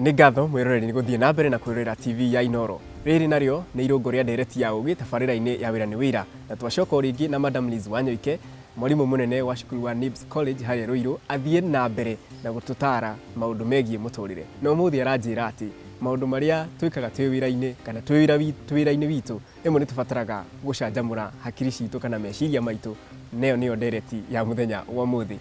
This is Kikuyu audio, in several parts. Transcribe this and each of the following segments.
nĩ ngatho mwĩroreri nĩ gũthiĩ na mbere na kwĩrorera tv ya inoro rĩrĩ narĩo nĩ irũngũ rĩa ndereti ya ũgĩ tabarĩra-inĩ ya wĩra nĩ wĩra na twacoka o rĩngĩ na madam liz wanyoike mwarimũ mũnene wa cukuru wa nibs college harĩa rũirũ athiĩ na mbere na gũtũtara maũndũ megiĩ mũtũrĩre na ũmũthĩ aranjĩra atĩ maũndũ marĩa twĩkaga twĩ wĩra-inĩ kana twĩ wĩra wi- twĩ wĩra-inĩ witũ rĩmwe nĩ tũbataraga gũcanjamũra hakiri citũ kana meciria maitũ nayo nĩyo ndereti ya mũthenya wa ũmũthĩ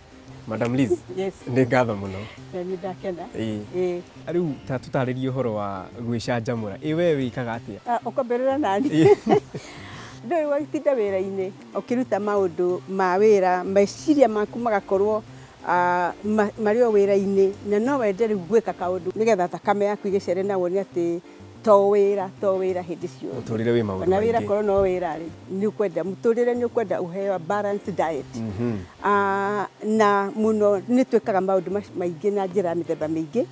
Madam Liz, Yes. nĩ ngatho mũno. Na nĩ ndakena. Ĩĩ. Ĩĩ. Rĩu ta tũtarĩrie ũhoro wa gwĩcanjamũra. Ĩ we wĩkaga atĩa? Ah, Ũkwambĩrĩra nani? Ndũĩ watinda wĩra-inĩ ũkĩruta maũndũ ma wĩra, meciria maku magakorwo ah, ma- marĩ o wĩra-inĩ na no wende rĩu gwĩka kaũndũ nĩgetha thakame yaku ĩgĩcere na wone atĩ to wĩra to wĩra hĩndĩ ciothe mũtũrĩre wĩ maũndũ ona wĩra maingĩ korwo no wĩra rĩ nĩ ũkwenda mũtũrĩre nĩ ũkwenda ũheo balanced diet Mhm. Ah, na mũno nĩ twĩkaga maũndũ mac- maingĩ na njĩra mĩthemba mĩingĩ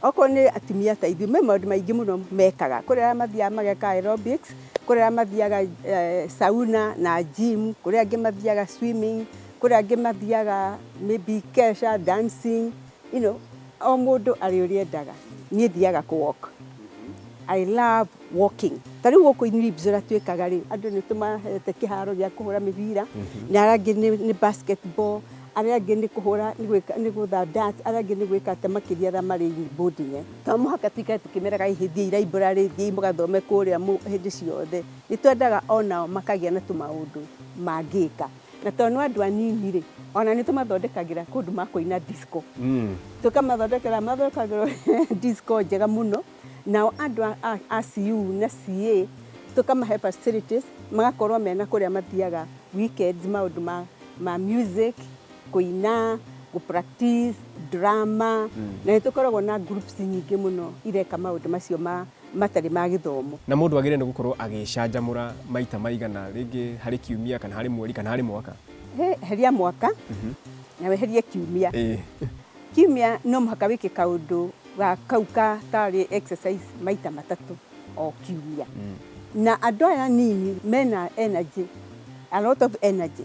okorwo nĩ atumia ta ithuĩ me maũndũ maingĩ mũno mekaga kũrĩ arĩa mathiaga mageka aerobics kũrĩ arĩa mathiaga eh, sauna na gym kũrĩ angĩ mathiaga swimming kũrĩ angĩ mathiaga maybe kesha dancing you know, o mũndũ arĩ ũrĩa endaga niĩ thiaga kũ walk I love walking ta rĩu gũkũ in Libs ũrĩa twĩkaga rĩ andũ nĩ tũmahete kĩharo gĩa kũhũra mĩbira na arĩa angĩ nĩ, nĩ basketball arĩa angĩ nĩ kũhũra nĩ gwĩka nĩ gũtha dart arĩa angĩ nĩ gwĩka atĩ makĩria arĩa marĩ boarding eh. to mũhaka tũikare tũkĩmeraga hihi thiĩi library thiĩi mũgathome kũrĩa mũ- hĩndĩ ciothe nĩ twendaga onao makagĩa na tũmaũndũ mangĩka na tondũ nĩ andũ anini rĩ ona nĩ tũmathondekagĩra kũndũ makũina disco mm. tũkamathondekera mathondekagĩrwo disco njega mũno nao andũ a CU na CA tũkamahe facilities magakorwo mena kũrĩa mathiaga weekends maũndũ ma, ma music kũina kũ practice drama mm. na nĩ tũkoragwo na groups nyingĩ mũno ireka maũndũ macio ma matarĩ ma gĩthomo. Na mũndũ agĩrĩire nĩ gũkorũo agĩĩcanjamũra maita maigana, rĩngĩ harĩ kiumia, kana harĩ mweri, kana harĩ mwaka? Hĩ, eheria mwaka, na weherie kiumia. Ĩĩ. Kiumia no mũhaka wĩke kaũndũ ga kau ka tarĩ exercise maita matatũ o kiumia. Na andũ aya anini mena energy, a lot of energy,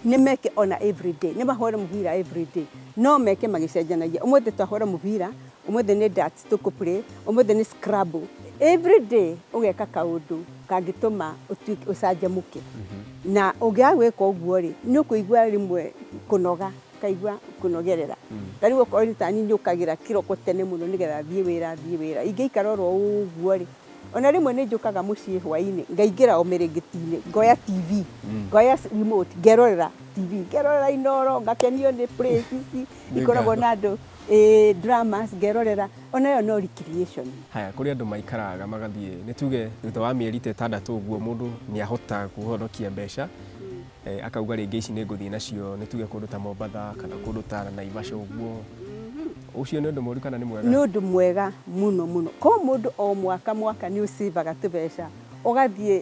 nĩ meke o na every day, nĩ mahũre mũbira every day. No meke magĩcenjanagia. Ũmũthĩ twahũra mũbira, ũmũthĩ nĩ darts, Tũkũpurĩ ũmũthĩ nĩ scrub. Every day ũgeka kaũndũ kangĩtũma ũtuĩke ũcanjamũke. Mhm. Na ũngĩaga gwĩka ũguo rĩ, nĩ ũkũigua rĩmwe kũnoga, ũkaigua kũnogerera. Mm. Ta rĩu okorwo nĩ tani njũkagĩra kĩroko tene mũno nĩgetha thiĩ wĩra thiĩ wĩra. Ingĩikara oro ũguo rĩ, ona rĩmwe nĩ njũkaga mũciĩ hwainĩ ngaingĩra o mĩrĩngĩti-inĩ ngoya TV, mm. ngoya remote ngerorera TV, ngerorera Inoro, ngakenio nĩ places ikoragwo na andũ eh, dramas ngerorera ona ĩyo no recreation haya kũrĩ andũ maikaraga magathiĩ nĩ tuge thutha wa mĩeri ta ĩtandatũ ũguo mũndũ nĩ ahota kũhonokia mbeca eh, akauga rĩngĩ ici nĩ ngũthiĩ nacio nĩ tuge kũndũ ta mombatha kana kũndũ ta naivasha ũguo ũcio nĩ ũndũ mũru kana nĩ mwega nĩ ũndũ mwega mũno mũno ko mũndũ o mwaka mwaka nĩ ũcĩvaga tũbeca ũgathiĩ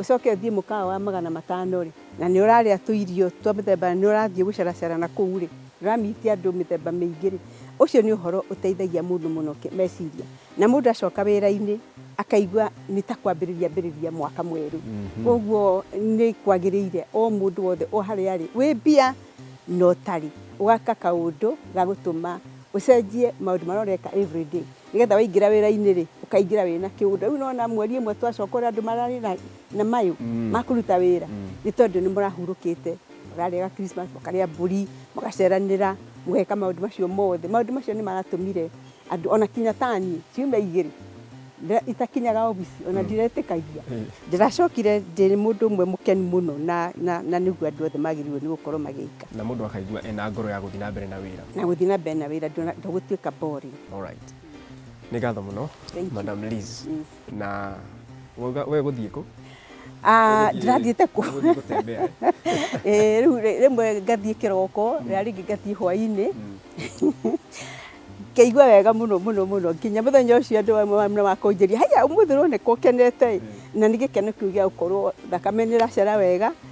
Ũcoke ũthiĩ mũkawa wa magana matano-rĩ, na nĩ ũrarĩa tũirio twa mũthemba, na nĩ ũrathiĩ gũcaracara na kũu-rĩ, nĩ ũra meet andũ mĩthemba mĩingĩ-rĩ, ũcio nĩ ũhoro ũteithagia mũndũ mũno meciria. Na mũndũ acoka wĩra-inĩ akaigua nĩ ta kwambĩrĩria ambĩrĩria mwaka mwerũ. Kũoguo nĩ kwagĩrĩire o mũndũ wothe o harĩa arĩ, wĩ mbia na ũtarĩ, ũgeka kaũndũ ga gũtũma ũcenjie maũndũ marĩa ũreka everyday. Nĩgetha waingĩra wĩra-inĩ rĩ, ũkaingĩra wĩna kĩũndũ. Rĩu nĩwona mweri ĩmwe twacoka ũrĩa andũ mararĩ na na mayũ ma kũruta wĩra, nĩ tondũ nĩmũrahurũkĩte. Mũrarĩa ga Christmas, mũkarĩa mbũri, mũgaceranĩra, mũgeka maũndũ macio mothe. Maũndũ macio nĩmaratũmire andũ ona kinya ta niĩ, ciumia igĩrĩ itakinyaga obici ona ndiretĩkagia. Ndĩracokire ndĩ mũndũ ũmwe mũkenu mũno na na na nĩguo andũ othe magĩrĩirwo nĩ gũkorwo magĩka. Na mũndũ akaigua ena ngoro ya gũthiĩ na mbere na wĩra. Na gũthiĩ na mbere na wĩra ndũgũtuĩka boring. Alright. Nĩ ngatho mũno Thank you. Madam Liz. Yes. Na wauga we gũthiĩ kũ? Ah, Ũgũthiĩ- ndirathiĩte kũ ũgũthiĩ gũtembea, eh? Eh, rĩu rĩ- rĩmwe ngathiĩ kĩroko rĩrĩa rĩngĩ ngathiĩ hwainĩ ngaigua wega mũno mũno mũno nginya mũthenya ũcio andũ amwe wa- na makũnjĩria haiya ũmũthĩ ũroneka ũkenete na nĩ gĩkeno kĩu gĩa gũkorwo thakame nĩ ĩracera wega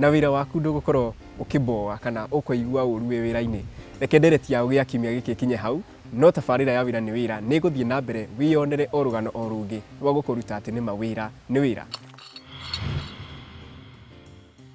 Na wĩra waku ndũgũkorwo ũkĩboa kana ũkoigua ũũru wĩ wĩra-inĩ. Reke ndereti ya Ũgĩ ya kiumia gĩkĩ ĩkinye hau, no tabarĩra ya Wĩra nĩ Wĩra nĩ ĩgũthiĩ na mbere wĩyonere o rũgano o rũngĩ rwa gũkũruta atĩ nĩ ma wĩra nĩ wĩra.